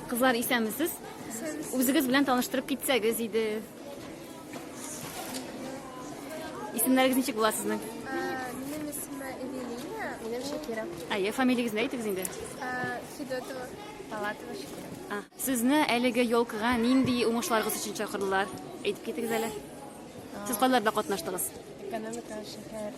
Кызлар исәнмесез. Үзегез белән таныштырып китсәгез иде. Исемнәрегез ничек була сезнең? Минем исемә Эвелина. Минем Шакира. Әйе, фамилиягез нә әйтегез инде. Федотова. Палатова Шакира. Сезне әлеге елкыга нинди уңышларыгыз өчен чакырдылар? Әйтеп китегез әле. Сез кайларда катнаштыгыз? Экономика, шәһәр.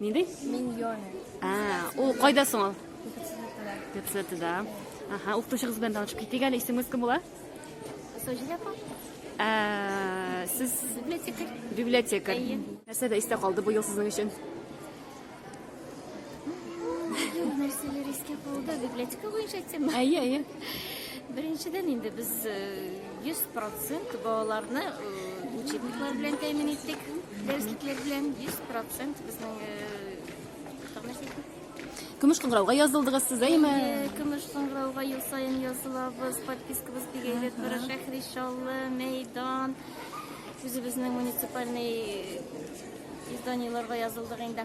Нинди? Миньоны. А, ул кайда соң ул? Кепсетеда. Аха, укытучыгыз белән танышып китик әле. Исемегез кем була? Саҗидә апа. Ә, сез библиотекарь. Библиотекарь. Нәрсә дә истә калды бу ел сезнең өчен? Нәрсәләр искә калды? Библиотека буенча тема. Әйе, әйе. Беренчедән инде без э, Йөз процент балаларны учебниклар белән тәэмин иттек, дәреслекләр белән йөз процент безнең Көмеш кыңгырауга язылдыгыз сез, әйме? Көмеш кыңгырауга ел саен язылабыз, подпискабыз бик әйбәт бара. Шәһри Шаллы, Мәйдан, үзебезнең муниципальный изданиеләргә язылдык инде.